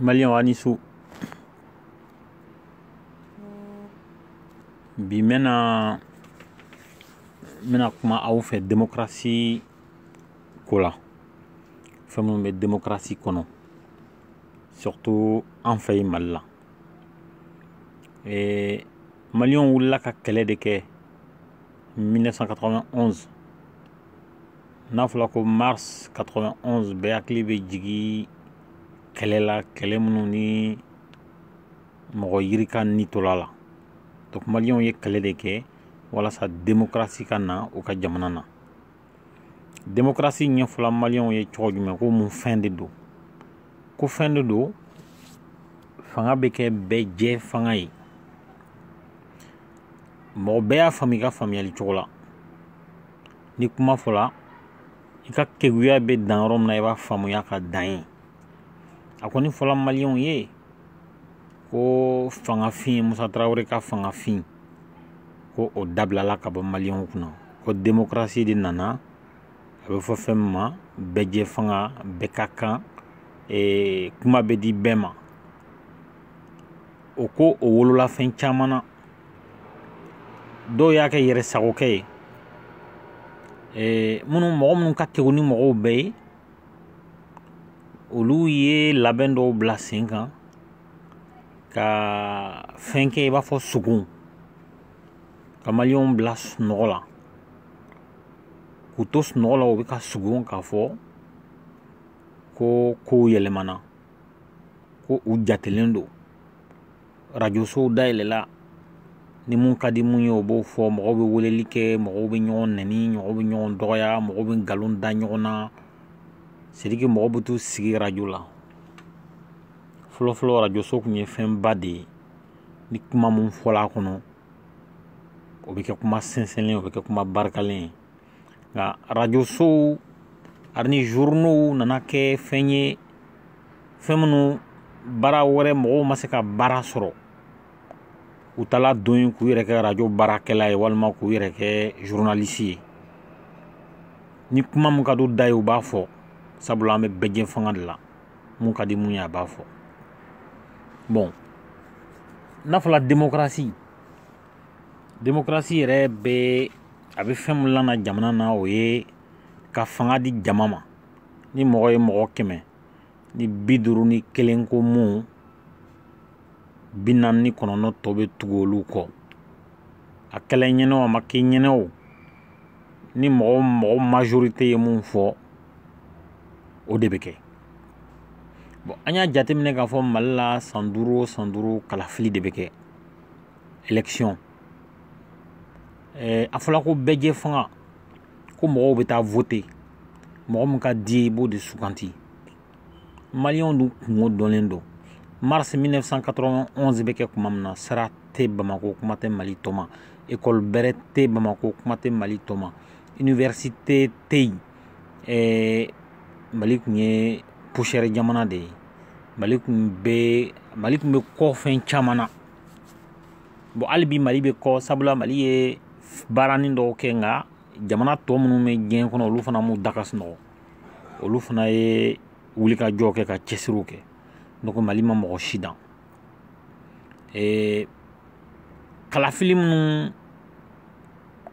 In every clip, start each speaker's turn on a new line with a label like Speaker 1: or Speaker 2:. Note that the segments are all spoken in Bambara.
Speaker 1: maliyɛnw aw ni su bi n bɛna n bɛna kuma aw fɛ demokarasi ko la fɛn minnu bɛ demokarasi kɔnɔ surtout an fɛ yen mali la eh, maliyɛnw wulila ka kɛlɛ de kɛ 1991 n'a fɔla ko mars 91 bɛɛ hakili bɛ jigi kɛlɛ la kɛlɛ minnu ni mɔgɔ yirika ni tola a la donc maliyɛnw ye kɛlɛ de kɛ walasa demokarasi ka na u ka jamana na démocratie ɲɛfɔla maliyɛnw ye cogo jumɛn ko mun fɛn de don ko fɛn de don fanga bɛ kɛ bɛɛ jɛ fanga ye mɔgɔ bɛɛ y'a faamu i ka faamuyali cogo la ni kuma fɔla i ka keguya bɛ dan yɔrɔ min na i b'a faamuya ka dan yen a kɔni fɔla maliyɛnw ye ko fangafin musa tarawele ka fangafin ko o dabilala ka bɔ maliyɛnw kunna ko demokarasi de nana a bɛ fɔ fɛn min ma bɛɛ jɛ fanga bɛɛ ka kan e, kuma bɛ di bɛɛ ma o ko o wolola fɛn caman na dɔw y'a kɛ yɛrɛ sagokɛ ye e, minnu mɔgɔ minnu ka kegu ni mɔgɔw bɛɛ ye olu ye labɛn dɔw bila sen kan ka fɛn kɛ i b'a fɔ sugun ka maliyɛnw bila sunɔgɔ la k'u to sunɔgɔ la u bɛ ka sugun k'a fɔ ko kow yɛlɛmana ko u jatelen don arajosow dayɛlɛla ni mun ka di mun ye o b'o fɔ mɔgɔw bɛ weleli kɛ mɔgɔw bɛ ɲɔgɔn nɛni mɔgɔw bɛ ɲɔgɔn dɔgɔya mɔgɔw bɛ nkalon da ɲɔgɔn na c'est à dire que mɔgɔw bɛ t'u sigi arajo la fɔlɔfɔlɔ arajoso tun ye fɛnba de ye ni kuma mun fɔla a kɔnɔ o bɛ kɛ kuma sɛnsɛnlen o bɛ kɛ kuma barikalen ye nka arajosow ani journaux nana kɛ fɛn ye fɛn minnu baara wɛrɛ mɔgɔw ma se ka baara sɔrɔ u taala don yen k'u yɛrɛ kɛ arajo baarakɛla ye walima k'u yɛrɛ kɛ zurunalisi ye ni kuma min ka d'u da ye u b'a fɔ sabula an bɛ bɛɛ jɛ fanga de la mun ka di mun ye a b'a fɔ bon n'a fɔla demokarasi démocratie yɛrɛ bɛ a bɛ fɛn min lana jamana na o ye ka fanga di jama ma ni mɔgɔ ye mɔgɔ kɛmɛ ni bi duuru ni kelen ko mun bi naani ni kɔnɔntɔn tɔ bɛ tugu olu kɔ a kɛla ɲɛnɛ o a ma kɛ ɲɛnɛ o ni mɔgɔ mɔgɔ majorité ye mun fɔ o de bɛ kɛ bon an y'a jateminɛ k'a fɔ mali la san duuru o san duuru kalafili de bɛ kɛ élection eh, a fɔla ko bɛɛ jɛ fanga ko mɔgɔw bɛ taa vote mɔgɔ min ka d'i ye i b'o de suganti maliyɛnw dun kunko dɔnlen don mars 1991 bɛ kɛ kuma min na sira tɛ bamako kuma tɛ mali tɔ ma ekɔli bɛrɛ tɛ bamako kuma tɛ mali tɔ ma iniwɛrisite tɛ yen eh, mali tun ye poussière jamana de ye mali tun bɛ mali tun bɛ kɔ fɛn caman na bon hali bi mali bɛ kɔ sabula mali ye baaranin dɔw kɛ nka jamana tɔ minnu bɛ diɲɛ kɔnɔ olu fana m'u da ka sunɔgɔ olu fana ye wulikajɔ kɛ ka cɛsiriw kɛ donc mali ma mɔgɔ si dan ee kalafili minnu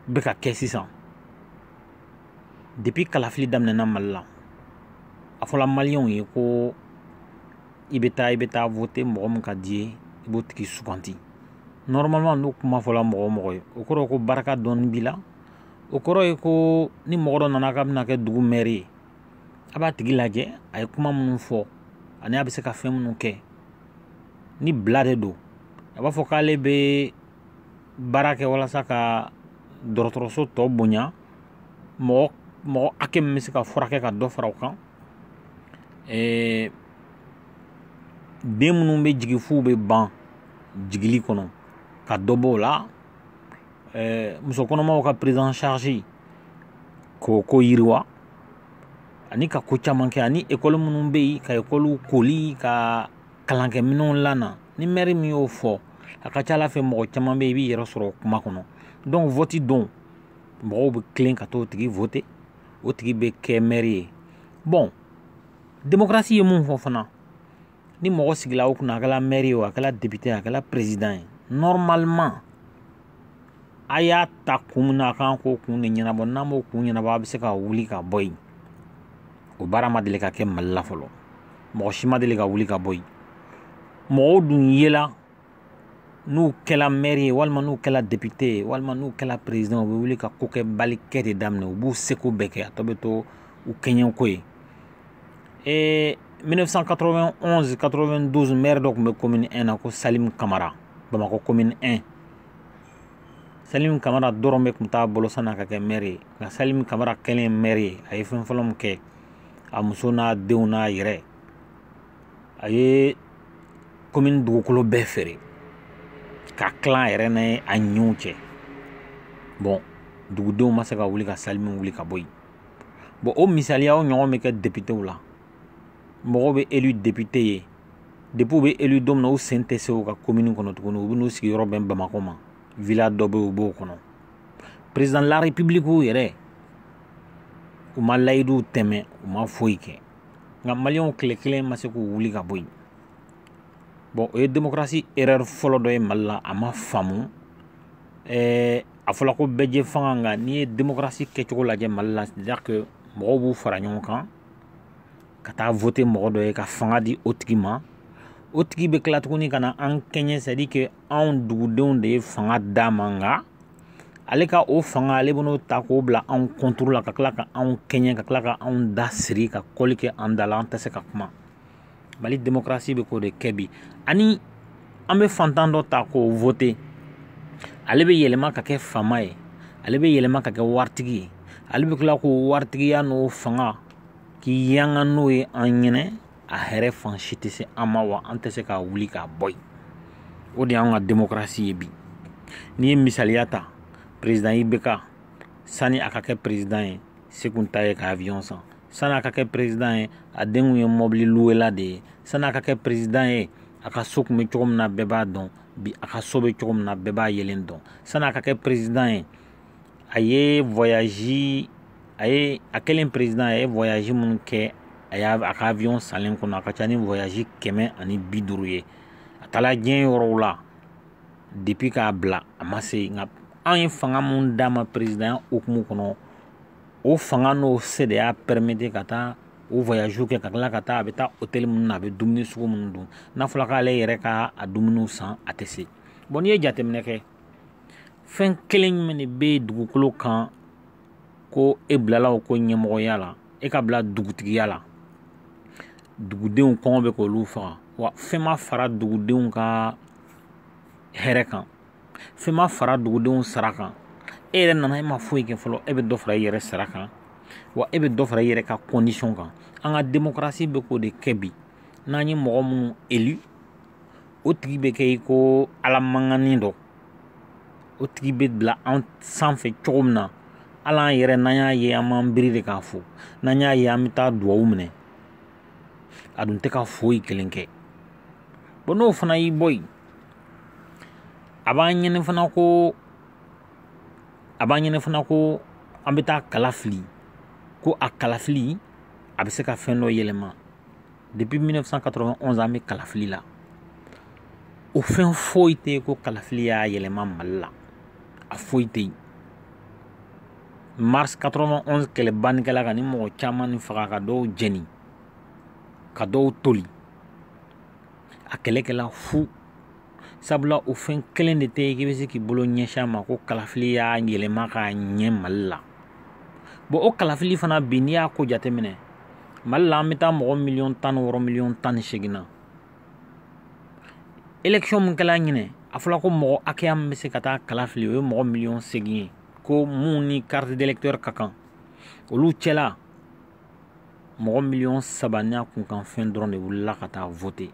Speaker 1: bɛ ka kɛ sisan depuis kalafili daminɛna mali la a fɔla maliyɛnw ye ko i bɛ taa i bɛ taa vote mɔgɔ min ka d'i ye i b'o tigi suganti normalement n'o kuma fɔla mɔgɔ o mɔgɔ ye o kɔrɔ ye ko barika dɔɔni b'i la o kɔrɔ ye ko ni mɔgɔ dɔ nana k'a bɛna kɛ dugu mɛri ye a b'a tigi lajɛ a ye kuma minnu fɔ ani a bɛ se ka fɛn minnu kɛ ni bila de don a b'a fɔ k'ale bɛ baara kɛ walasa ka dɔgɔtɔrɔso tɔ bonya mɔgɔ mɔgɔ hakɛ min bɛ se ka furakɛ ka dɔ fara o kan ɛɛ den minnu bɛ jigin f'u bɛ ban jigili kɔnɔ ka dɔ b'o la ɛɛ muso kɔnɔmaw ka prise en charge k'o ko yiriwa ani ka ko caman kɛ ani ekɔli minnu bɛ yen ka ekɔliw koli ka kalankɛminɛnw lana ni mɛri min y'o fɔ a ka c'a la fɛ mɔgɔ caman bɛ yen i b'i yɛrɛ sɔrɔ kuma kɔnɔ donc vote don mɔgɔw bɛ tilen ka t'o tigi vote o tigi bɛ kɛ mɛri ye bon demokarasi ye mun fɔ fana ni mɔgɔ sigila o kun na a kɛla mɛri ye o a kɛla depite a kɛla perezidan ye nɔrɔmaliman a y'a ta kun min na a kan k'o kun de ɲɛnabɔ n'a m'o kun ɲɛnabɔ a bɛ se ka wuli ka bɔ yen o baara ma deli ka kɛ mali la fɔlɔ mɔgɔ si ma deli ka wuli ka bɔ yen mɔgɔw dun yela n'u kɛla mɛri ye walima n'u kɛla depite ye walima n'u kɛla perezidan u bɛ wuli ka kokɛbali kɛ de daminɛ u b'u seko bɛɛ kɛ a tɔ bɛ to u kɛɲɛko ye ee 1991 92 mɛri dɔ tun bɛ komini 1 na ko salimu kamara bamakɔ komini 1 salimu kamara dɔrɔmɛ tun t'a bolo san'a ka kɛ mɛri ye nka salimu kamara kɛlen mɛri ye a ye fɛn fɔlɔ min kɛ a muso n'a denw n'a yɛrɛ a ye komin dugukolo bɛɛ feere k'a tila a yɛrɛ ni a ɲinw cɛ bɔn dugudenw ma se ka wuli ka salimu wuli ka bɔ yen bɔn o misaliya o ɲɔgɔn bɛ kɛ depitew la mɔgɔw bɛ elu depite ye depi u bɛ elu don min na u sen tɛ se u ka komini kɔnɔ tuguni u bɛn'u sigiyɔrɔ bɛn bamakɔ ma vila dɔ bɛ u b'o kɔnɔ perezidan de larepibiliki yɛrɛ u ma layiduw tiimɛ u ma foyi kɛ nka maliyɛnw tile kelen ma se k'u wuli ka bɔ yen bɔn o ye demokarasi erɛri fɔlɔ dɔ ye mali la a ma faamu ɛɛ a fɔla ko bɛɛjɛfanga nka n'i ye demokarasi kɛcogo lajɛ mali la c'est-à-dire que mɔgɔw b'u fara ɲɔgɔn kan ka taa vote mɔgɔ dɔ ye ka fanga di o tigi ma o tigi bɛ tila tuguni ka na an kɛɲɛ c'est-à-dire que anw dugudenw de ye fanga d'a ma nka ale ka o fanga ale bɛn'o ta k'o bila anw kɔntiri la ka tila ka anw kɛɲɛ ka tila ka anw da siri ka kɔli kɛ an da la an tɛ se ka kuma mali demokarasi bɛ k'o de kɛ bi ani an bɛ fantan dɔ ta k'o vote ale bɛ yɛlɛma ka kɛ faama ye ale bɛ yɛlɛma ka kɛ waritigi ye ale bɛ tila k'o waritigiya n'o fanga k'i yanga n'o ye an ɲɛnɛ a hɛrɛ fan si tɛ se an ma wa an tɛ se k'a wuli k'a bɔ yen o de y'an ka demokarasi ye bi n'i ye misaliya ta perezidan ibeka sani a ka kɛ perezidan ye se kun t'a ye ka avion san sani a ka kɛ perezidan ye a den kun ye mɔbili luwela de ye sani a ka kɛ perezidan ye a ka so kun bɛ cogo min na bɛɛ b'a dɔn bi a ka so bɛ cogo min na bɛɛ b'a yelen dɔn sani a ka kɛ perezidan ye a ye voyage a ye a kɛlen président a ye voyage minnu kɛ a y'a a ka avion salen kɔnɔ a ka ca ni voyage kɛmɛ ani bi duuru ye a taala diɲɛ yɔrɔw la depuis k'a bila a ma se nka an ye fanga min d'a ma présidentya hukumu kɔnɔ o fanga n'o se de y'a permettre ka taa o voyage kɛ ka tila ka taa a bɛ taa hôtel minnu na a bɛ dumuni sugu minnu dun n'a fɔra k'ale yɛrɛ ka a dumuniw san a tɛ se bɔn n'i ye jateminɛ kɛ fɛn kelen jumɛn de bɛ dugukolo kan ko e bilala o ko ɲɛmɔgɔya la e ka bila dugutigiya la dugudenw kɔngɔ bɛ k'olu faga wa fɛn ma fara dugudenw ka hɛrɛ kan fɛn ma fara dugudenw sara kan e yɛrɛ nana e ma foyi kɛ fɔlɔ e bɛ dɔ fara i yɛrɛ sara kan wa e bɛ dɔ fara i yɛrɛ ka kɔndisɔn kan an ka demokarasi bɛ k'o de kɛ bi n'an ye mɔgɔ minnu élu o tigi bɛ kɛ i ko ala mankanni dɔ o tigi bɛ bila an sanfɛ cogo min na hali an yɛrɛ n'an y'a ye an b'an biri de k'a fo n'an y'a ye an bɛ taa duwawu minɛ a dun tɛ ka foyi kelen kɛ bɔn n'o fana y'i bɔ yen a b'an ɲini fana ko an bɛ taa kala fili ko a kalafili a bɛ se ka fɛn dɔ yɛlɛma depuis 1991 an bɛ kalafili la o fɛn foyi tɛ yen ko kalafili y'a yɛlɛma mali la a foyi tɛ yen mars 91 kɛlɛba nin kɛla ka nin mɔgɔ caman nin faga ka dɔw jɛni ka dɔw toli a kɛlɛ kɛla fu sabula o fɛn kelen de tɛ yen k'i bɛ se k'i bolo ɲɛsin a ma ko kalafili y'a yɛlɛma k'a ɲɛ mali la bɔn o kalafili fana bi n'i y'a ko jateminɛ mali la an bɛ taa mɔgɔ miliyɔn tan ni wɔɔrɔ miliyɔn tan ni seegin na elekisɔn min kɛla ɲinɛ a fɔla ko mɔgɔ hakɛya min bɛ se ka taa kala fili o ye mɔgɔ miliyɔn segin ye ko mun ni carte d'électeur ka kan olu cɛla mɔgɔ miliyɔn saba n'a kunkanfɛn dɔrɔn de wulila ka taa vote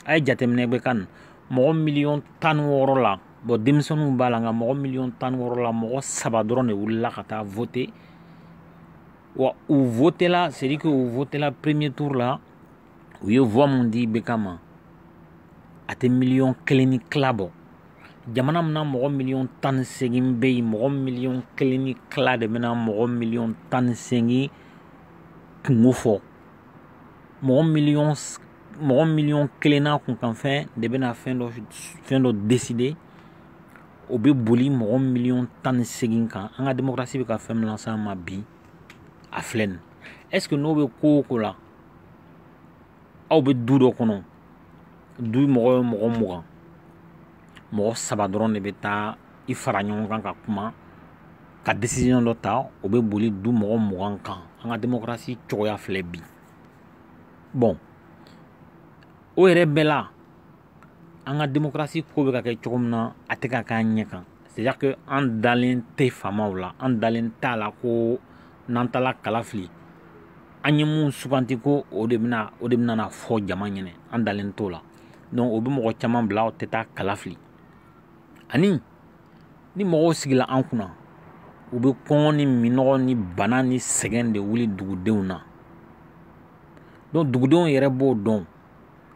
Speaker 1: a ye jateminɛ bɛ kan mɔgɔ miliyɔn tan ni wɔɔrɔ la bɔn denmisɛnninw b'a la nka mɔgɔ miliyɔn tan ni wɔɔrɔ la mɔgɔ saba dɔrɔn de wulila ka taa vote wa u votela c'est-à-dire que u votela premier tour la u ye voix mun di ibeka ma a tɛ miliyɔn kelen ni tila bɔ jamana min na mɔgɔ miliyɔn tan ni segin bɛ yen mɔgɔ miliyɔn kelen ni tila de bɛna mɔgɔ miliyɔn tan ni segin kunko fɔ mɔgɔ miliyɔn mɔgɔ miliyɔn kelen n'a kunkanfɛn de bɛna fɛn dɔ deside o bɛ boli mɔgɔ miliyɔn tan ni seegin kan an ka demokarasi bɛ ka fɛn min lase an ma bi a filɛ nin est ce que n'o bɛ ko o ko la aw bɛ du dɔ kɔnɔ du mɔgɔ ye mɔgɔ mugan mɔgɔ saba dɔrɔn de bɛ taa i fara ɲɔgɔn kan ka kuma ka desiziyɔn dɔ ta o bɛ boli du mɔgɔ mugan kan an ka demokarasi cogoya filɛ bi bɔn o yɛrɛ bɛɛ la an ka demokarasi ko bɛ ka kɛ cogo min na a tɛ ka k'an ɲɛ kan c'est-à-dire que an dalen tɛ faamaw la an dalen t'a la ko n'an taara kala fili an ye mun suganti ko o de bɛna na fɔ jama ɲɛnɛ an dalen t'o la donc o bɛ mɔgɔ caman bila o tɛ taa kala fili ani ni mɔgɔw sigila an kunna u bɛ kɔngɔ ni minɔgɔ ni bana ni sɛgɛn de wuli dugudenw na donc dugudenw yɛrɛ b'o dɔn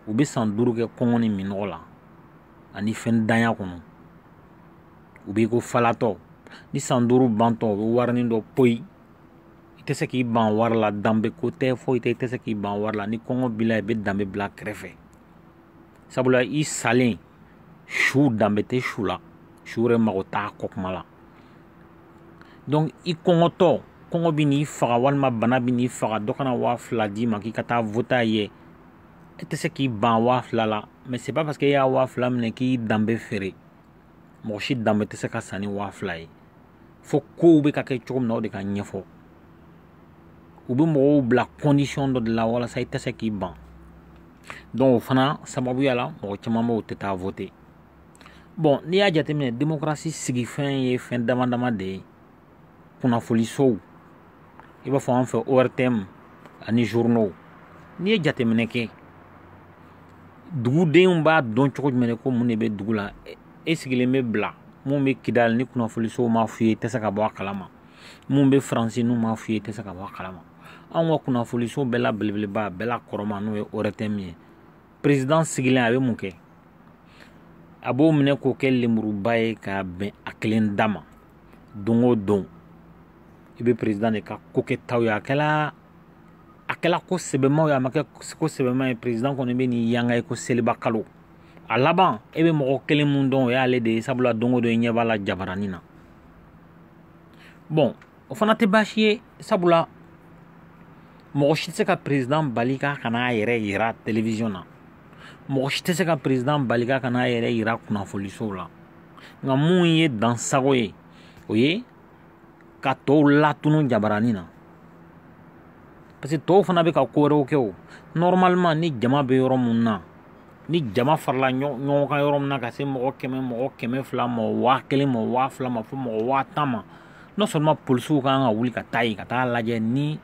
Speaker 1: u bɛ san duuru kɛ kɔngɔ ni minɔgɔ la ani fɛntanya kɔnɔ u b'i ko falatɔ ni san duuru bantɔ u bɛ warinin dɔ poyi i tɛ se k'i ban wari la danbe ko tɛ foyi tɛ i tɛ se k'i ban wari la ni kɔngɔ b'i la i bɛ danbe bila kɛrɛfɛ sabula i salen su danbe tɛ su la su yɛrɛ mago t'a kɔ kuma la donc i kɔngɔtɔ kɔngɔ bɛn'i faga walima bana bɛn'i faga dɔ ka na waa fila d'i ma k'i ka taa vote a ye e tɛ se k'i ban waa fila la mais c'est pas parce que e y'a waa fila minɛ k'i danbe feere mɔgɔ si danbe tɛ se ka san ni waa fila ye fo kow bɛ ka kɛ cogo min na o de ka ɲɛfɔ u bɛ mɔgɔw bila condition dɔ de la walasa i tɛ se k'i ban donc o fana sababuya la mɔgɔ caman b'o tɛ taa vote bon n'i y'a jateminɛ demokarasi sigifɛn ye fɛn dama dama de ye kunnafonisow i b'a fɔ an fɛ ortm ani journaux n'i ye jateminɛ kɛ dugudenw b'a dɔn cogo jumɛn de ko mun de bɛ dugu la e sigilen bɛ bila mun bɛ kidali ni kunnafonisow m'a f'i ye i tɛ se ka bɔ a kalama mun bɛ faransi n'u m'a f'i ye i tɛ se ka bɔ a kalama anw ka kunnafoniso bɛɛ la belebeleba a bɛɛ la kɔrɔma n'o ye orɛtɛmu ye perezidan sigilen a bɛ mun kɛ a b'o minɛ k'o kɛ lemuruba ye k'a bɛn a kelen da ma don o don i bɛ perezidan de ka ko kɛtaw ye a kɛla ko sɛbɛmaw ye a ma kɛ ko sɛbɛma ye perezidan kɔni bɛ nin yanga i ko seliba kalo a laban e bɛ mɔgɔ kelen mun dɔn o y'ale de ye sabula don o don i ɲɛ b'a la jabaranin na bon o fana tɛ baasi ye sabula mɔgɔ si tɛ se ka perezidan bali k'a kana a yɛrɛ yira televiziyɔn na mɔgɔ si tɛ se ka perezidan bali k'a kana a yɛrɛ yira kunnafonisow la nka mun ye dansagon ye o ye ka tɔw latunu jabaranin na parce que tɔw fana bɛ ka ko wɛrɛw kɛ o normalement ni jama bɛ yɔrɔ mun na ni jama farala ɲɔgɔn kan yɔrɔ min na ka se mɔgɔ kɛmɛ mɔgɔ kɛmɛ fila ma waa kelen ma waa fila ma fo mɔgɔ waa tan ma non seulement polisiw ka kan ka wuli ka taa yen ka taa lajɛ ni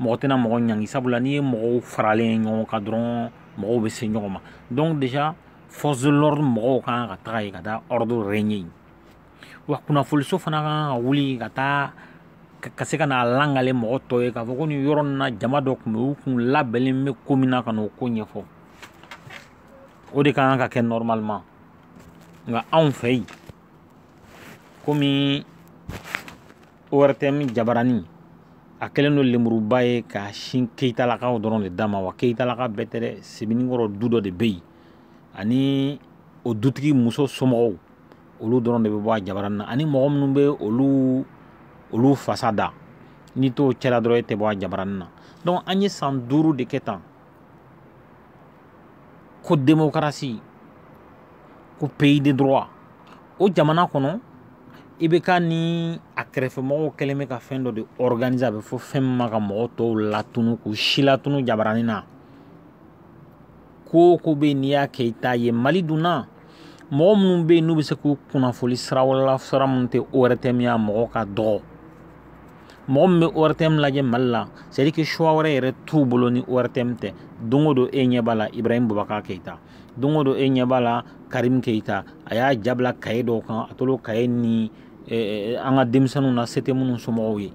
Speaker 1: mɔgɔ tɛna mɔgɔ ɲangi sabula n'i ye mɔgɔw faralen ye ɲɔgɔn kan dɔrɔn mɔgɔw bɛ se ɲɔgɔn ma donc déjà force de l'ordre mɔgɔw ka kan ka taga yen ka taa ordre régner yen wa kunnafoniso fana ka kan ka wuli ka taa ka se ka n'a lakali mɔgɔ tɔw ye k'a fɔ ko nin yɔrɔ nin na jama dɔ tun bɛ u tun labɛnnen bɛ ko min na ka n'o ko ɲɛfɔ o de ka kan ka kɛ normalement nka anw fɛ yen komi ortm jabarani a kɛlen don lemuruba ye ka sin keyitalakaw dɔrɔn de da ma wa keyitalaka bɛɛ tɛ dɛ sebenikɔrɔ du dɔ de bɛ yen ani o dutigi muso somɔgɔw olu dɔrɔn de bɛ bɔ a jabarani na ani mɔgɔ minnu bɛ olu fasa da n'i t'o cɛla dɔrɔn e tɛ bɔ a jabarani na donc an ye san duuru de kɛ tan ko demokarasi ko pays de droit o jamana kɔnɔ ibk ni a kɛrɛfɛmɔgɔw kɛlen bɛ ka fɛn dɔ de organiser a bɛ fɔ fɛn min ma ka mɔgɔ tɔw latunu k'u silatunu jabarani na ko o ko bɛ yen n'i y'a kɛ i t'a ye mali dun na mɔgɔ minnu bɛ yen n'u bɛ se k'u kunnafoni sira wɛrɛ la sira minnu tɛ ORTM ye a mɔgɔ ka dɔgɔ mɔgɔ min bɛ ORTM lajɛ Mali la c'est à dire que choix wɛrɛ yɛrɛ t'u bolo ni ORTM tɛ don o don e ɲɛ b'a la Ibrahim Boubacar Keita don o don e ɲɛ b'a la Karim Keita a y'a ja bila kaye dɔw kan a tolo kaye ni an ka denmisɛnninw na se tɛ minnu somɔgɔw ye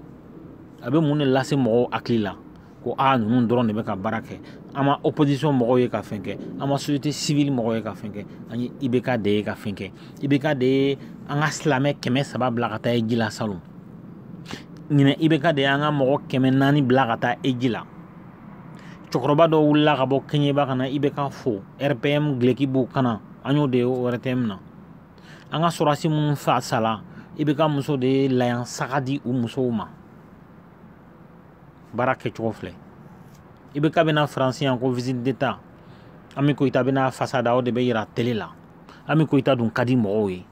Speaker 1: a bɛ mun de lase mɔgɔw hakili la ko a ninnu dɔrɔn de bɛ ka baara kɛ an ma opposition mɔgɔw ye ka fɛn kɛ an ma société civile mɔgɔw ye ka fɛn kɛ an ye ibk de ye ka fɛn kɛ ibk de ye an ka silamɛ kɛmɛ saba bila ka taa hiji la salon ɲinɛ ibk de ye an ka mɔgɔ kɛmɛ naani bila ka taa hiji la cɛkɔrɔba dɔw wulila ka bɔ kɛɲɛba ka na ibk fo rpm duloki b'u kan na an y'o de ye ortm na an ka sɔrɔdasi minnu fa sala ibk muso de ye layan saga di u musow ma baara kɛcogo filɛ ibk bɛna faransi yan ko visite d'état ami koyita bɛna a fasa da o de bɛ yira tele la ami koyita dun ka di mɔgɔw ye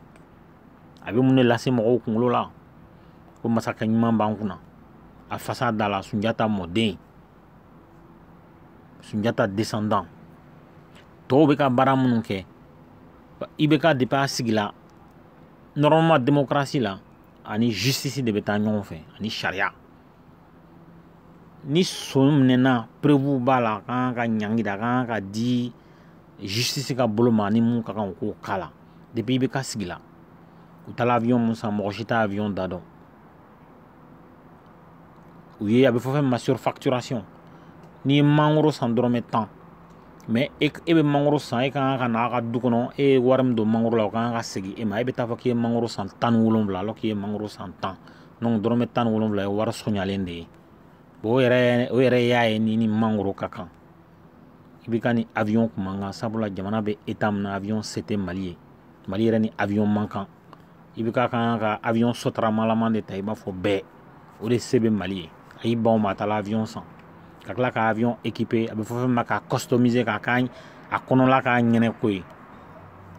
Speaker 1: a bɛ mun de lase mɔgɔw kunkolo la ko masakɛ ɲuman b'an kunna a fasa dala sunjata mɔden sunjata descendant tɔw bɛ ka baara minnu kɛ ibk depuis a sigila normalement démocratie la ani justice de bɛ taa ɲɔgɔn fɛ ani sariya ni son minɛna preuve b'a la a kan ka ɲangi da a kan ka di justice ka bolo ma ni mun ka kan u k'o k'a la depuis ibk sigila u taala avion min san mɔgɔ si t'a avion da dɔn u ye a bɛ fɔ fɛn min ma surfacturation n'i ye mangoro san dɔrɔmɛ tan mais e bɛ mangoro san e ka kan ka na a ka du kɔnɔ e ye wari min don mangoro la o ka kan ka segin e ma e bɛ taa fɔ k'i ye mangoro san tan ni wolonwula alors k'i ye mangoro san tan donc dɔrɔmɛ tan ni wolonwula ye wari sɔnyalen de ye bon o yɛrɛ o yɛrɛ y'a ye ni ni mangoro ka kan ibk ni avion kun man kan sabula jamana bɛ état min na avion se tɛ mali ye mali yɛrɛ ni avion man kan ibk kan ka avion sotaramalaman de ta i b'a fɔ bɛɛ o de se bɛ mali ye a y'i ban o ma a taara avion san ka tila ka avion équiper a bɛ fɔ fɛn min ma k'a customiser k'a k'a a kɔnɔla k'a ɲɛna ko ye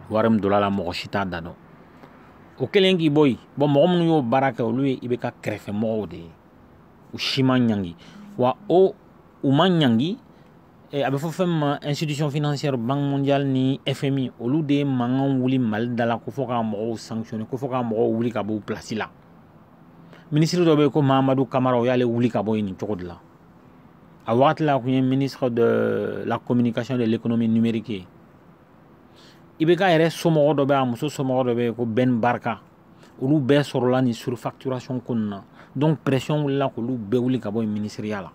Speaker 1: wari min donna a la mɔgɔ si t'a da dɔn o kelen k'i bɔ yen bon mɔgɔ minnu y'o baara kɛ olu ye ibk kɛrɛfɛ mɔgɔw de ye u si ma ɲangi wa o u ma ɲangi eh, a bɛ fɔ fɛn min ma institution financière banque mondiale ni fmi olu de ye mankan wuli mali da la ko fɔ ka mɔgɔw sanctionner ko fɔ ka mɔgɔw wuli ka bɔ u place la minisiri dɔ bɛ yen ko mahamadu kamara u y'ale wuli ka bɔ yen nin cogo de la a wagati la a kun ye ministre de la communication de l'économie numérique ye ibk yɛrɛ somɔgɔ dɔ bɛ a muso somɔgɔ dɔ bɛ yen ko ben barka olu bɛɛ sɔrɔla nin surfacturation ko nin na donc pression wulila k'olu bɛɛ wuli ka bɔ yen minisiriya la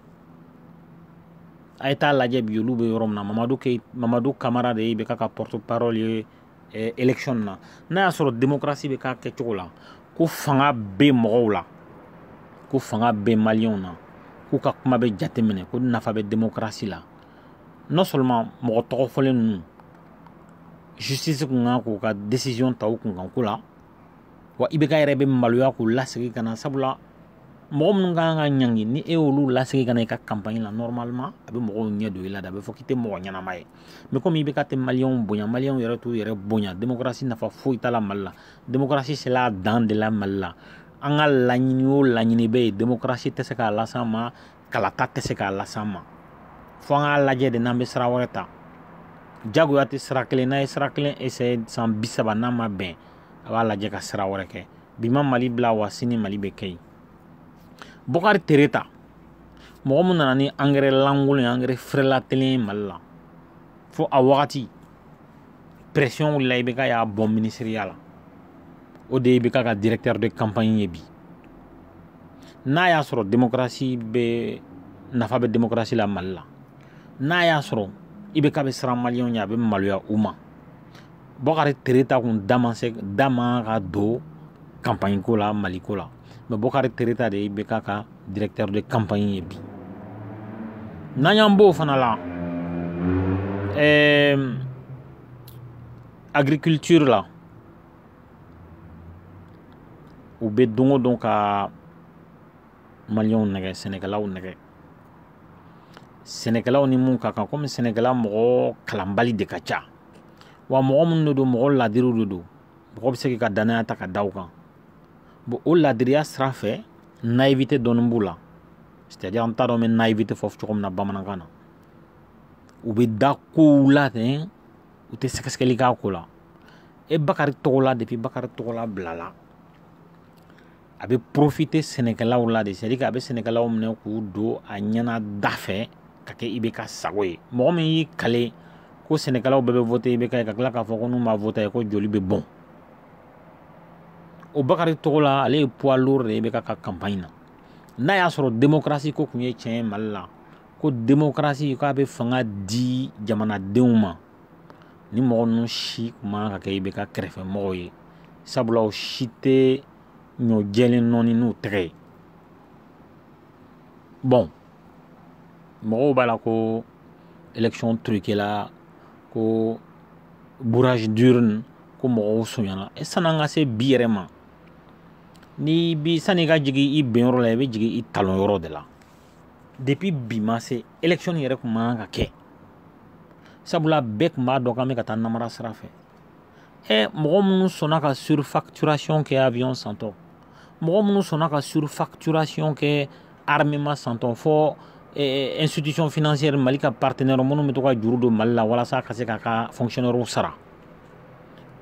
Speaker 1: a ye taa lajɛ bi olu bɛ yɔrɔ min na mamadu ke mamadu kamara de ye ibk ka porte parole ye eh, election na n'a y'a sɔrɔ démocratie bɛ k'a kɛcogo la ko fanga bɛ mɔgɔw la ko fanga bɛ maliyɛnw na k'u ka kuma bɛ jateminɛ ko nafa bɛ démocratie la non seulement mɔgɔ tɔgɔ fɔlen ninnu justice kun kan k'u ka décision ta u kunkanko la wa ibk yɛrɛ bɛ maloya k'u lasegin ka na sabula mɔgɔ minnu kan ka ɲangi ni e y'olu lasegin ka na i ka campagne la normalement a bɛ mɔgɔw ɲɛ don i la de a bɛ fɔ k'i tɛ mɔgɔ ɲɛnama ye mais komi ibk tɛ maliyɛnw bonya maliyɛnw yɛrɛ t'u yɛrɛ bonya démocratie nafa foyi t'a la mali la démocratie sela a dan de la mali la an ka laɲini o laɲini bɛ yen démocratie tɛ se k'a las'an ma kalata tɛ se k'a las'an ma fo an k'a lajɛ de n'an bɛ sira wɛrɛ ta jagoya tɛ sira kelen n'a ye sira kelen essaye san bi saba n'a ma bɛn a b'a lajɛ ka sira wɛrɛ kɛ bi ma mali bila wa sini mali bɛ kɛ yen bokari tereta mɔgɔ min nana ni angɛrɛ lankolon ye angɛrɛ frelatélen ye mali la fo a wagati pression wulila ibk y'a bɔ minisiriya la o de ye ibk ka directeur de campagne ye bi n'a y'a sɔrɔ démocratie bɛ nafa bɛ démocratie la mali la n'a y'a sɔrɔ ibk bɛ siran maliyɛnw ɲɛ a bɛ maloya u ma bokari tereta kun da man se da man ka don campagne ko la mali ko la mais bokari tereta de ye ibk ka directeur de campagne ye bi n'an y'an b'o fana la ɛɛ euh, agriculture la u bɛ don o don ka maliyɛnw nɛgɛ sɛnɛkɛlaw nɛgɛ sɛnɛkɛlaw ni mun ka kan komi sɛnɛkɛla mɔgɔ kalanbali de ka ca wa mɔgɔ minnu de don mɔgɔ ladiriw de don mɔgɔ bɛ se k'i ka dannaya ta ka da u kan bon o ladiriya sira fɛ naïveté dɔɔni b'u la c'est à dire an t'a dɔn n bɛ naïveté fɔ cogo min na bamanankan na u bɛ da kow la ten u tɛ sɛgɛsɛgɛli k'a ko la e bakari togola depuis bakari togola bilala a bɛ profite sɛnɛkɛlaw la de c'est à dire a bɛ sɛnɛkɛlaw minɛ k'u don a ɲɛna da fɛ ka kɛ ibk sago ye mɔgɔ min y'i kale ko sɛnɛkɛlaw bɛɛ bɛ vote ibk ye ka tila k'a fɔ ko n'u ma vote ko joli bɛ bɔn o bakari togola ale ye poids lourd de ye IBK ka campagne na n'a y'a sɔrɔ démocratie ko tun ye tiɲɛ ye mali la ko démocratie k'a bɛ fanga di jamanadenw ma ni mɔgɔ ninnu si tun man kan ka kɛ IBK kɛrɛfɛmɔgɔw ye sabula o si tɛ ɲɔ jɛlen nɔɔni n'u tɛgɛ ye bon mɔgɔw b'a la ko élection truquela ko bourrage d'urne ko mɔgɔw sonyana e san'an ka se bi yɛrɛ ma ni bi sani ka jigin i benyɔrɔ la i bɛ jigin i talonyɔrɔ de la depuis bi ma se élection yɛrɛ tun man kan ka kɛ sabula bɛɛ tun b'a dɔn k'an bɛ ka taa namara sira fɛ ɛ mɔgɔ minnu sɔnna ka surfacturation kɛ avion santɔ mɔgɔ minnu sɔnna ka surfacturation kɛ armement santɔ fo institution financière mali ka partenaire minnu bɛ to ka juru don mali la walasa ka se k'a ka fonctionnaire sara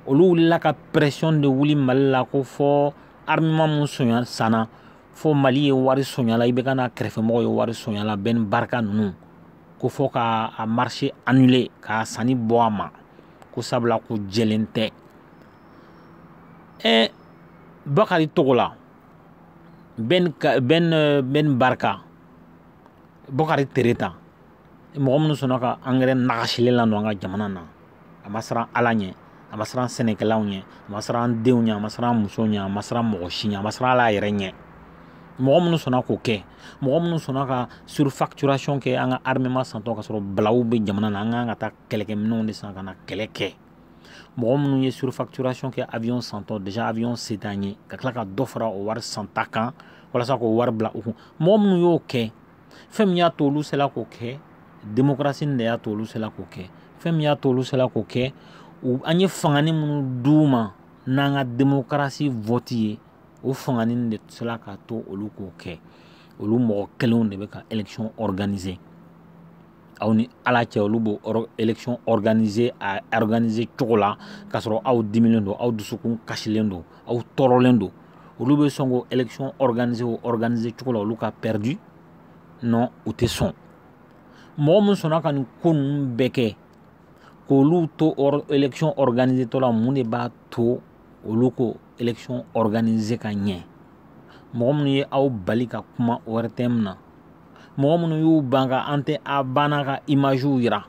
Speaker 1: olu wulila ka pression de wuli mali la ko fo armement min sonya sanna fo mali ye wari sonya la IBK n'a kɛrɛfɛmɔgɔ ye wari sonya la ben barka ninnu ko fo ka a marché annulé k'a sanni bɔ a ma ko sabula ko jɛlen tɛ ɛ bakari togola ben ben ben barka bokari tereta mɔgɔ minnu sɔnna ka angɛrɛ nagasilen ladon an ka jamana na a ma siran ala ɲɛ a ma siran sɛnɛkɛlaw ɲɛ a ma siran an denw ɲɛ a ma siran an musow ɲɛ a ma siran mɔgɔ si ɲɛ a ma siran ala yɛrɛ ɲɛ mɔgɔ minnu sɔnna k'o kɛ mɔgɔ minnu sɔnna ka surfacturation kɛ an ka armement santɔ k'a sɔrɔ balawu bɛ jamana na an ka kan ka taa kɛlɛkɛminɛnw de san ka na kɛlɛ kɛ mɔgɔ minnu ye surfacturation kɛ avion santɔ déjà avion se t'an ye ka tila ka dɔ fara o wari santa kan walasa k'o wari bila u kun mɔgɔ minnu y'o kɛ fɛn min y'a to olu sela k'o kɛ démocratie de y'a to olu sela k'o kɛ fɛn min y'a to olu sela k'o kɛ u an ye fangani minnu d'u ma n'an ka démocratie vote ye o fangani de sela k'a to olu k'o kɛ olu mɔgɔ kelenw de bɛ ka élection organiser aw ni ala cɛ olu b'o élection organiser a organiser cogo la k'a sɔrɔ aw dimilen don aw dusukun kasilen don aw tɔɔrɔlen don olu bɛ sɔn k'o élection organiser o organiser cogo la olu ka perdu non u tɛ sɔn mɔgɔ min sɔnna ka nin ko ninnu bɛɛ kɛ k'olu to élection organiser tɔ la mun de b'a to olu k'o élection organiser ka ɲɛ mɔgɔ minnu ye aw bali ka kuma ORTM na mɔgɔ minnu y'u ban ka an tɛ a banna ka imaziw yira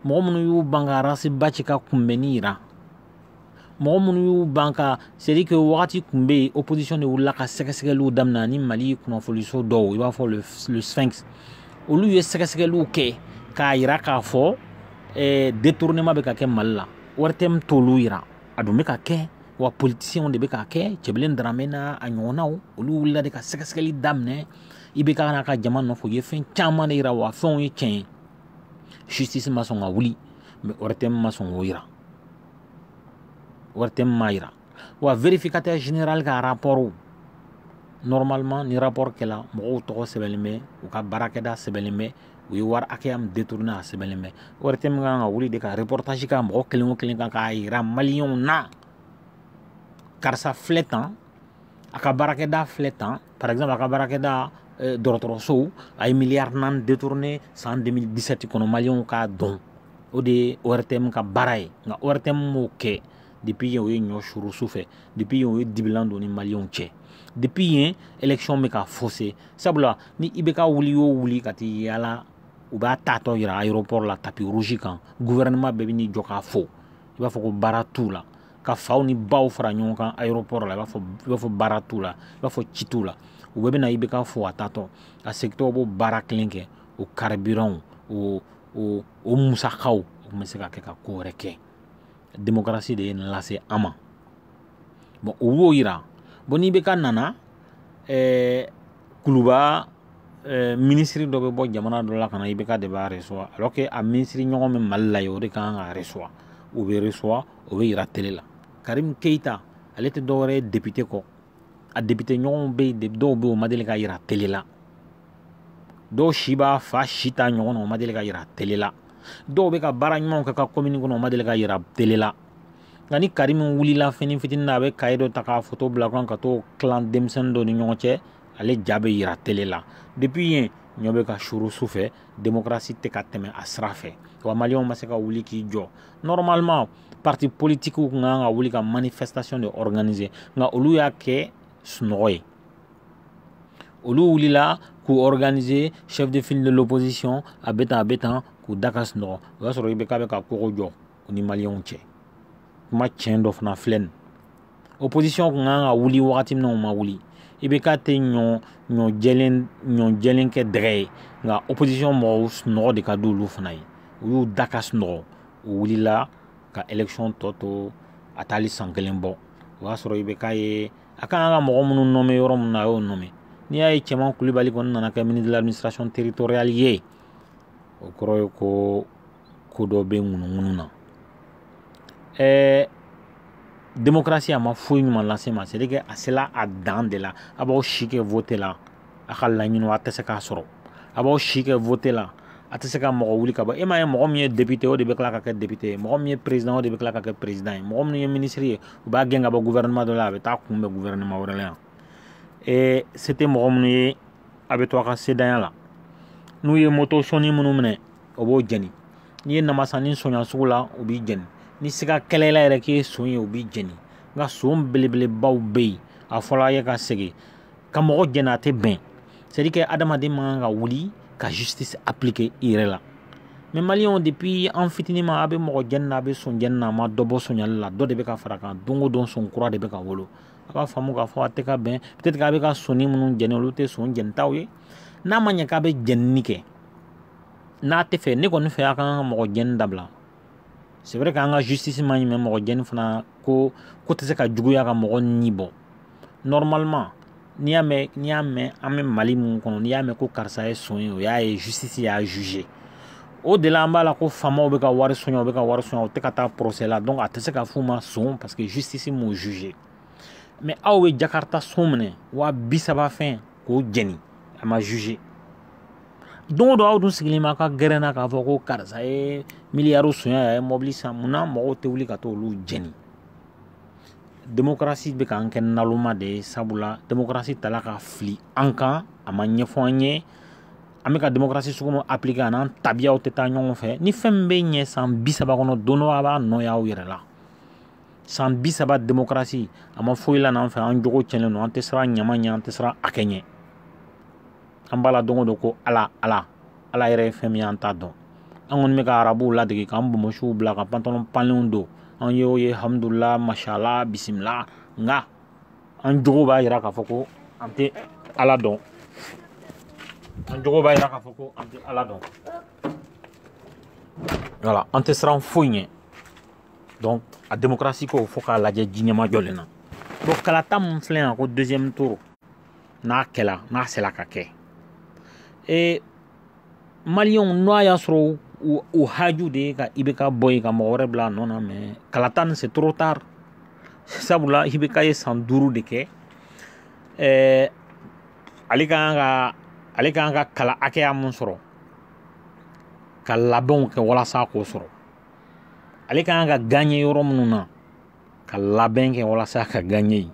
Speaker 1: mɔgɔ minnu y'u ban ka ras bath ka kunbɛnni yira mɔgɔ minnu y'u ban ka c'est-à-dire que wagati kun bɛ yen opposition de wulila ka sɛgɛsɛgɛliw daminɛ ani mali kunnafoniso dɔw i b'a fɔ le sphinx olu ye sɛgɛsɛgɛliw kɛ k'a yira k'a fɔ eh, détournement bɛ ka kɛ mali la ortm t'olu yira a dun bɛ ka kɛ wa politisiɲɛw de bɛ k'a kɛ cɛbilen daramɛ n'a ɲɔgɔnnaw olu wulila de ka sɛgɛsɛgɛli daminɛ ibk n'a ka jama nɔfɛ u ye fɛn caman de yira wa fɛnw ye tiɲɛ ye justice ma sɔn ka wuli mais ɔrɛtɛm ma sɔn k'o yira ɔrɛtɛm m'a yira wa vérificateur général ka rapport normalement ni rapport kɛla mɔgɔw tɔgɔ sɛbɛnlen bɛ u ka baarakɛda sɛbɛnlen bɛ u ye wari hakɛya min détourné a sɛbɛnlen bɛ ɔrɛtɛm ka kan ka wuli de ka reportage kɛ mɔgɔ kelen o kelen kan k'a yira maliyɛnw na karisa filɛ tan a ka baarakɛda filɛ tan par exemple a ka baarakɛda eh, dɔgɔtɔrɔsow a ye miliyari naani détourné san 2017 kɔnɔ maliyɛnw k'a dɔn o de ye ortm ka baara ye nka ortm m'o kɛ depuis yen o ye ɲɔ suru su fɛ depuis yen o ye dibilan don ni maliyɛnw cɛ depuis yen élection bɛ ka faussé sabula ni ibk wuli yo wuli ka t'i yaala u b'a taatɔ yira aéroport la tapis rouge kan gouvernement bɛɛ bɛ n'i jɔ k'a fo i b'a fɔ ko baara t'u la ka faw ni baw fara ɲɔgɔn kan aéroport la i b'a fɔ baara t'u la i b'a fɔ ci t'u la u bɛɛ bɛ na ibk fo a taatɔ a segintɔ u b'o baara kelen kɛ o carburant o o o musakaw o tun bɛ se ka kɛ ka ko wɛrɛ kɛ démocratie de ye nin lase an ma bon u b'o yira bon n'ibk nana ɛɛ kuluba ɛɛ minisiri dɔ bɛ bɔ jamana dɔ la ka na ibk de b'a recevoir alors que a minisiri ɲɔgɔn bɛ mali la yen o de ka kan k'a recevoir u bɛ recevoir o bɛ yira tele la karimu keyita ale tɛ dɔwɛrɛ ye depite kɔ a depite ɲɔgɔnw bɛ yen dɔw bɛ yen o ma deli ka yira tele la dɔw si b'a fa si ta ɲɔgɔn na o ma deli ka yira tele la dɔw bɛ ka baara ɲumanw kɛ u ka komini kɔnɔ o ma deli ka yira tele la nka ni karimu wulila fɛnnin fitinin na a bɛ kaye dɔ ta k'a foto bila a kan ka t'o tilan denmisɛnnin dɔ ni ɲɔgɔn cɛ ale ja bɛ yira tele la depuis yen ɲɔ bɛ ka suru su fɛ demokarasi tɛ ka tɛmɛ a sira fɛ wa maliyɛnw ma se ka wuli k'i jɔ normalement parti politique kun kan ka wuli ka manifestation de organiser nka olu y'a kɛ sunɔgɔ ye olu wulila k'u organiser chef de file de l'opposition a bɛ tan a bɛ tan k'u da ka sunɔgɔ o y'a sɔrɔ ibk bɛ ka kogo jɔ u ni maliyɛnw cɛ kuma tiɲɛ dɔ fana filɛ nin opposition kun ka kan ka wuli wagati min na u ma wuli ibk tɛ ɲɔ ɲɔ jɛlen ɲɔ jɛlen kɛ dɛgɛ ye nka opposition mɔgɔw sunɔgɔ de ka di olu fana ye u y'u da ka sunɔgɔ u wulila ka election tɔ to a taali san kelen bɔ o y'a sɔrɔ ibk ye a ka kan ka mɔgɔ minnu nommé yɔrɔ min na a y'o nommé n'i y'a ye cɛman kulibali kɔni nana kɛ ministre de l'administration territoriale ye o kɔrɔ ye ko ko dɔ bɛ ŋunuŋunu na ɛɛ démocratie a ma foyi ɲuman las'a ma c'est que a sela a dan de la a b'aw si kɛ vote la a ka laɲiniw a tɛ se k'a sɔrɔ a b'aw si kɛ vote la a tɛ se ka mɔgɔ wuli ka bɔ e m'a ye mɔgɔ min ye député o de bɛ tila ka kɛ député ye mɔgɔ min ye président o de bɛ tila ka kɛ président ye mɔgɔ min ye ministre ye u b'a gɛn ka bɔ gouvernement dɔ la a bɛ taa kunbɛn gouvernement wɛrɛ la yan ee se tɛ mɔgɔ minnu ye a bɛ to a ka sentanya la n'u ye moto sonni minnu minɛ o b'o jeni n'i ye namasanin sonya sugu la o b'i jeni ni siga kɛl'i la yɛrɛ k'i ye son ye o b'i jeni nka son belebelebaw bɛ yen a fɔr'a ye ka segin ka mɔgɔ jɛni a tɛ bɛn c'est à dire que adamaden man kan ka wuli ka justice appliquer i yɛrɛ la mais maliyɛnw depuis an fitininman a bɛ mɔgɔ jɛni na a bɛ son jɛni na a ma dɔ bɔ sonyali la dɔ de bɛ ka far'a kan don o don son kura de bɛ ka wolo a b'a faamu k'a fɔ a tɛ ka bɛn peut être k'a bɛ ka sonni minnu jɛni olu tɛ son jɛnitaw ye n'a ma ɲɛ k'a bɛ jɛnini kɛ n'a tɛ fɛ ne kɔni fɛ a kan ka mɔgɔ jɛni dabila c'est vrai k'an ka justice man ɲi mais mɔgɔ jɛni fana ko ko tɛ se ka juguya ka mɔgɔ ni bɔ normalement n'i y'a mɛn n'i y'a mɛn an bɛ mali mun kɔnɔ n'i y'a mɛn ko karisa ye son ye o y'a ye justice y'a jugé o de la an b'a la ko faamaw bɛ ka wari sonya u bɛ ka wari sonya u tɛ ka taa procès la donc a tɛ se ka f'u ma son parce que justice m'o jugé mais aw bɛ jakarta son minɛ waa bi saba fɛn k'o jeni a ma jugé don o don aw dun sigilen b'a ka gɛrɛn na k'a fɔ ko karisa ye miliyari sonya a ye mɔbili san munna mɔgɔw tɛ wuli ka t'olu jeni demokarasi bɛ k'an kɛ naloma de ye sabula demokarasi tala ka fili an kan a ma ɲɛfɔ an ye an bɛ ka demokarasi sugu min appliquer a n'an tabiyaw tɛ taa ɲɔgɔn fɛ ni fɛn min bɛ ɲɛ san bi saba kɔnɔ don dɔ a b'a nɔ y'aw yɛrɛ la san bi saba demokarasi a ma foyi lana an fɛ an jogo cɛnnen don an tɛ siran ɲama ɲɛ an tɛ siran hakɛ ɲɛ an b'a la don o don ko ala ala ala yɛrɛ ye fɛn min an t'a dɔn an kɔni bɛ ka arabuw ladege k'an bonbonsiw bila ka pantalon panlenw don an ye o ye hamdulila mashallah bisimila nka an jogo b'a yira k'a fɔ ko an tɛ ala dɔn an jogo b'a yira k'a fɔ ko an tɛ ala dɔn wala an tɛ siran foyi ɲɛ donc a démocratie ko fo k'a lajɛ ji ɲɛmajɔlen na bon kalata min filɛ yan ko deuxième tour n'a kɛla n'a sela ka kɛ e maliyɛnw n'o a y'a sɔrɔ u haju de ye ka ibk bɔ yen ka mɔgɔ wɛrɛ bila a nɔ na mais kalata nin c'est trop tard sabula ibk ye san duuru de kɛ ɛɛ ale ka kan ka ale ka kan ka kala hakɛya min sɔrɔ ka labɛnw kɛ walasa k'o sɔrɔ ale ka kan ka gagner yɔrɔ minnu na ka labɛn kɛ walasa ka gagner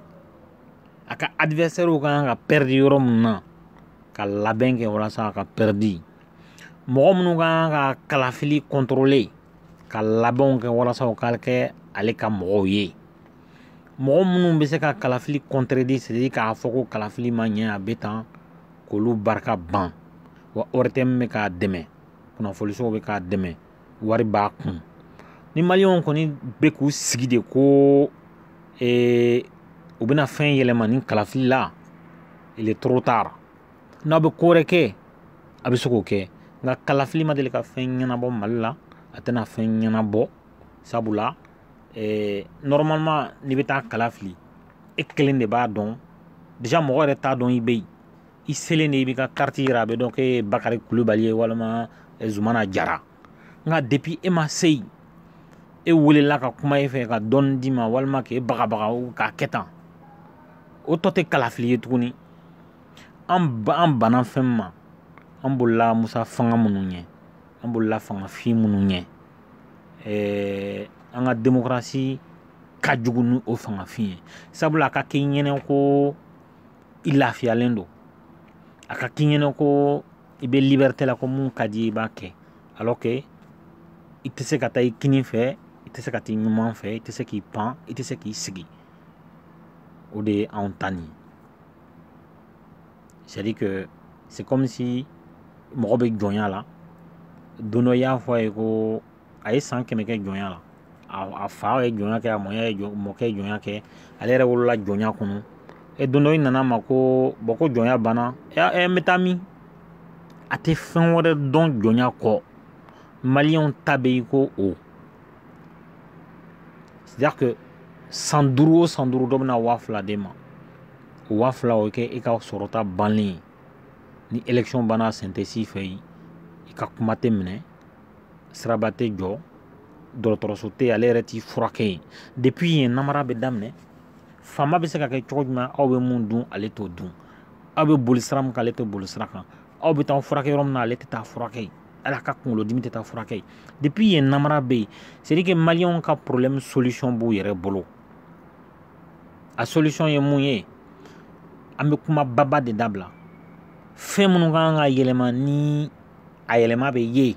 Speaker 1: a ka adversaire ka kan ka pɛridi yɔrɔ minnu na ka labɛn kɛ walasa ka pɛridi mɔgɔ minnu ka kan ka kalafili contrôler ka labɛnw kɛ walasa u ka kɛ ale ka mɔgɔw ye mɔgɔ minnu bɛ se ka kalafili contredire c'est-à-dire k'a fɔ ko kalafili ma ɲɛ a bɛ tan k'olu barika ban wa ortm bɛ k'a dɛmɛ kunnafonisow bɛ k'a dɛmɛ wari b'a kun ni maliyɛnw kɔni bɛ k'u sigi de ko ee, u bɛna fɛn yɛlɛma nin kalafili la il est trop tard n'aw bɛ ko wɛrɛ kɛ a bɛ se k'o kɛ nka kalafili ma deli ka fɛn ɲɛnabɔ mali la a tɛna fɛn ɲɛnabɔ sabula ee, normalement n'i bɛ taa kala fili e kelen de b'a dɔn déjà mɔgɔ yɛrɛ t'a dɔn i bɛ yen i selen de i b'i ka kariti yira a bɛ dɔn k'e ye bakari kulubali ye walima eh, zumana jara nka depuis e ma se yen e welela ka kuma e fɛ ka dɔɔni d'i ma walima k'e bagabaga k'a kɛ tan o tɔ tɛ kalafili ye tuguni an ba an banna fɛn ma an bolila musa fanga minnu ɲɛ an bolila fangafin minnu ɲɛ ɛɛ an ka demokarasi ka jugu ni o fangafin ye sabula a ka k'i ɲɛna ko i lafiyalen don a ka k'i ɲɛna ko i bɛ liberté la ko min ka di i b'a kɛ alors que i tɛ se ka taa i kinin fɛ i tɛ se ka t'i numan fɛ i tɛ se k'i pan i tɛ se k'i sigi o de ye anw ta nin c'est à dire que c'est comme si mɔgɔ bɛ jɔnya la don dɔ i y'a fɔ a ye ko a ye san kɛmɛ kɛ jɔnya la a fa ye jɔnya kɛ a mɔya ye mɔkɛ ye jɔnya kɛ ale yɛrɛ wolola jɔnya kɔnɔ e don dɔ i nana ma ko bɔ ko jɔnya banna ɛ n bɛ taa min a tɛ fɛn wɛrɛ dɔn jɔnya kɔ maliyɛnw ta bɛ i ko o c'est-à-dire que san duuru o san duuru dɔ bɛna waa fila d'e ma o waa fila o kɛ e ka sɔrɔta bannen ye ni élection banna sentɛsi fɛ yen i ka kuma tɛ minɛ siraba tɛ jɔ dɔgɔtɔrɔso tɛ ale yɛrɛ t'i furakɛ yen depuis yen namara bɛ daminɛ faama bɛ se ka kɛ cogo jumɛn aw bɛ mun dun ale t'o dun aw bɛ boli sira min kan ale tɛ boli sira kan aw bɛ taa furakɛ yɔrɔ min na ale tɛ taa furakɛ yen hali a ka kunkolodimi tɛ taa furakɛ yen depuis yen namara bɛ yen c'est à dire que maliyɛnw ka problème solution b'u yɛrɛ bolo a solution ye mun ye an bɛ kuma baba de dabila fɛn minnu ka kan ka yɛlɛma ni a yɛlɛma bɛ ye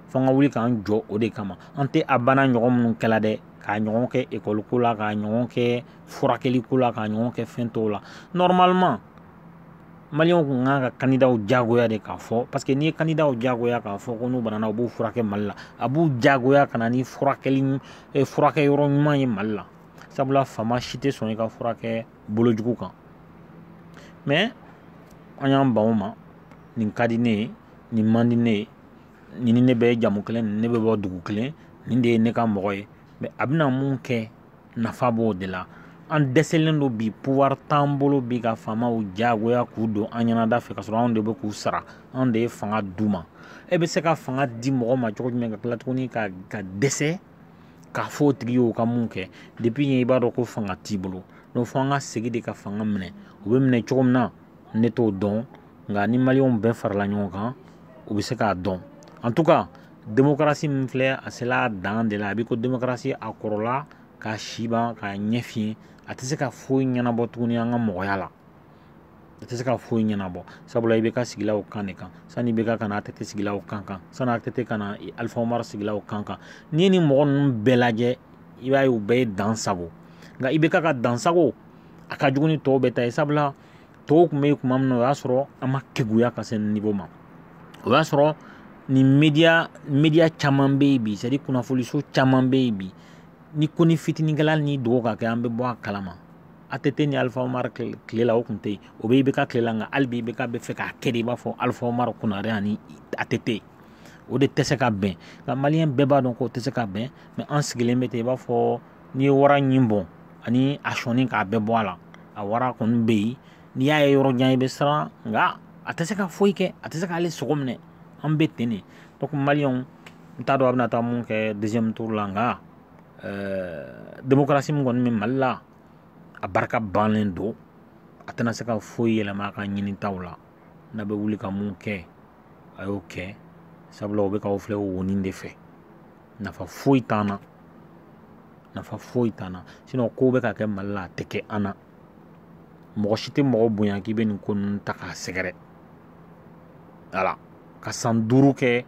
Speaker 1: fo an ka wuli k'an jɔ o de kama an tɛ a banna ɲɔgɔn minnu kɛla dɛ k'a ɲɔgɔn kɛ ekɔli ko la k'a ɲɔgɔn kɛ furakɛli ko la k'a ɲɔgɔn kɛ fɛn tɔw la normalement maliyɛnw kun ka kan ka kandidaw jagoya de k'a fɔ parce que n'i ye kandidaw jagoya k'a fɔ ko n'u banana u b'u furakɛ mali la a b'u jagoya ka na ni furakɛli eh, furakɛ yɔrɔ ɲuman ye mali la sabula faama si tɛ sɔn i ka furakɛ bolojugu kan mais an y'an ban o ma nin ka di ne ye nin man di ne ye nin ni ne bɛ jamu kelen nin ne bɛ bɔ dugu kelen nin de ye ne ka mɔgɔ ye mais a bɛna mun kɛ nafa b'o de la an dɛsɛlen don bi pouvoir t'an bolo bi ka faamaw jagoya k'u don an ɲɛnada fɛ ka sɔrɔ anw de bɛ k'u sara anw de ye fanga d'u ma e bɛ se ka fanga di mɔgɔ ma cogo jumɛn ka tila tuguni ka ka dɛsɛ k'a fɔ o tigi y'o ka mun kɛ depuis yen i b'a dɔn ko fanga t'i bolo donc fo an ka segin de ka fanga minɛ u bɛ minɛ cogo min na ne t'o dɔn nka ni maliyɛnw bɛɛ farala ɲɔgɔn kan u bɛ se k'a dɔn en tout cas demokarasi min filɛ a sela a dan de la a bɛ ko demokarasi a kɔrɔla k'a si ban k'a ɲɛ fiyen a tɛ se ka foyi ɲɛnabɔ tuguni an ka mɔgɔya la a tɛ se ka foyi ɲɛnabɔ sabula IBK sigila o kan de kan sani IBK ka na ATT sigila o kan kan sani ATT ka na Alpha Omar sigila o kan kan n'i ye nin mɔgɔ ninnu bɛɛ lajɛ i b'a ye u bɛɛ ye dan sago nka IBK ka dan sago a ka jugu ni tɔw bɛɛ ta ye sabula tɔw tun bɛ yen kuma min na o y'a sɔrɔ an ma keguya ka se nin niveau ma o y'a sɔrɔ nin media caman bɛ yen bi c'est à dire kunnafoniso caman bɛ yen bi ni konin fitinin kɛla n'i dogo k'a kɛ an bɛ bɔ a kalama ATT ni Alpha Omar tile la o tun tɛ yen o bɛ IBK tile la nka hali bi IBK bɛ fɛ k'a kɛ de i b'a fɔ Alpha Omar Konare ani ATT o de tɛ se ka bɛn nka maliyɛn bɛɛ b'a dɔn k'o tɛ se ka bɛn mais an sigilen bɛ ten i b'a fɔ n'i ye wara ɲin bɔn ani a sɔnin k'a bɛɛ bɔ a la a wara kɔni bɛ yen n'i y'a ye yɔrɔ jan i bɛ siran nka a tɛ se ka foyi kɛ a tɛ se k'ale sogo minɛ an bɛ ten de donc maliyɛnw n t'a dɔn a bɛna taa mun kɛ deuxième tour la nka ɛɛ démocratie min kɔni bɛ mali la a barika bannen don a tɛna se ka foyi yɛlɛma a ka ɲinitaw la n'a bɛ wuli ka mun kɛ a y'o kɛ sabula o bɛ k'aw filɛ wonin de fɛ nafa foyi t'an na nafa foyi t'an na sinon ko bɛ ka kɛ mali la a tɛ kɛ an na mɔgɔ si tɛ mɔgɔ bonya k'i bɛ nin ko ninnu ta k'a sɛgɛrɛ wala ka san duuru kɛ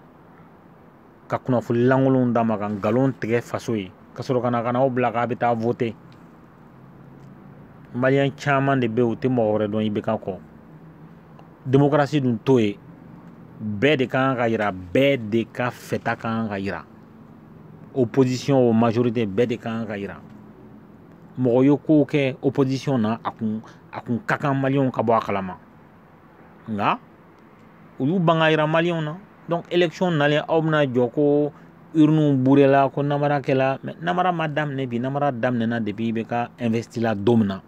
Speaker 1: ka kunnafoni lankolonw d'a ma ka nkalon tigɛ faso ye ka sɔrɔ ka na ka n'aw bila k'a bɛ taa vote maliyɛn caman de bɛ yen u tɛ mɔgɔ wɛrɛ dɔn IBK kɔ demokarasi dun t'o ye bɛɛ de kan ka yira bɛɛ de ka fɛta kan ka yira opposition o majorité bɛɛ de kan ka yira mɔgɔ ye kow kɛ opposition na a kun a kun ka kan maliyɛnw ka bɔ a kalama nka u y'u ban k'a yira maliyɛnw na donc élection nalen aw bɛna jɔ ko urniw burela ko namara kɛla mais namara ma daminɛ bi namara daminɛna depuis IBK investi la don min na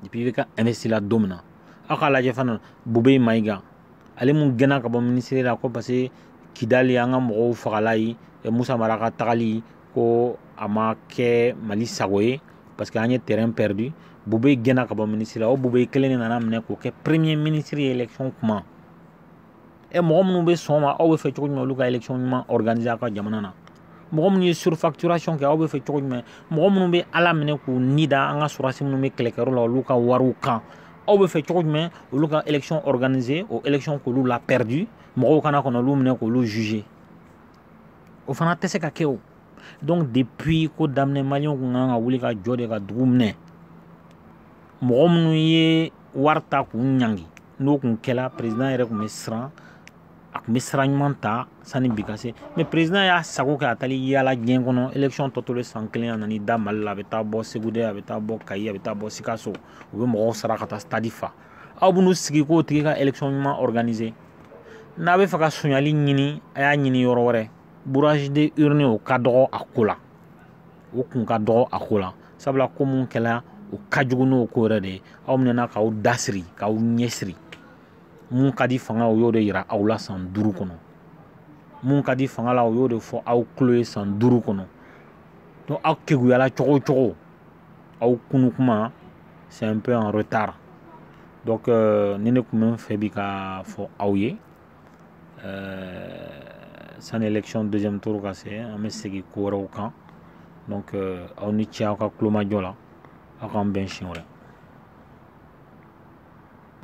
Speaker 1: depuis IBK investi la don min na aw k'a lajɛ fana bube mayiga ale mun gɛnna ka bɔ minisiri la ko parce que kidali an ka mɔgɔw fagala yen musa mara ka tagali ko a ma kɛ mali sago ye parce que an ye terrain perdu bube gɛnna ka bɔ minisiri la o bube kelen de nana minɛ k'o kɛ premier ministre ye élection kuma e mɔgɔ minnu bɛ sɔn ma aw bɛ fɛ cogo jumɛn olu ka élection ɲuman organiser aw ka jamana na mɔgɔ minnu ye surfacturation kɛ aw bɛ fɛ cogo jumɛn mɔgɔ minnu bɛ ala minɛ k'u ni da an ka sɔrɔdasi minnu bɛ kɛlɛkɛyɔrɔ la olu ka wariw kan aw bɛ fɛ cogo jumɛn olu ka élection organiser o élection k'olu la perdu mɔgɔw ka na ka n'olu minɛ k'olu juger o fana tɛ se ka kɛ o donc depuis ko daminɛ maliyɛnw kun ka kan ka wuli ka jɔ de ka dugu minɛ mɔgɔ minnu ye wari ta k'u ɲangi n'o kun kɛla président yɛrɛ kun bɛ siran a kun bɛ sira ɲuman ta sani bi ka se mais président y'a sago kɛ a taal'i yaala diɲɛ kɔnɔ élection tɔ tolen san kelen a nan'i da mali la a bɛ taa bɔ segu de a bɛ taa bɔ kayi a bɛ taa bɔ sikaso u bɛ mɔgɔw sara ka taa stade fa aw bɛn'u sigi k'o tigi ka élection ɲuman organiser n'a bɛ fɛ ka sonyali ɲini a y'a ɲini yɔrɔ wɛrɛ bourrage de urne o ka dɔgɔ a ko la o kun ka dɔgɔ a ko la sabula ko mun kɛla o ka jugu n'o ko yɛrɛ de ye aw minɛna k'aw da siri k'aw ɲɛ siri mun ka di fanga o y'o de yira aw la san duuru kɔnɔ mun ka di fanga la o y'o de fɔ aw tulo ye san duuru kɔnɔ aw keguyala cogo o cogo aw kunu kuma c'est un peu en retard donc euh, nin de kun bɛ n fɛ bi k'a fɔ aw ye euh, sani élection deuxième tour ka se an bɛ segin ko wɛrɛw kan donc euh, aw ni ce aw ka kulomajɔ la aw k'an bɛn siɲɛ wɛrɛ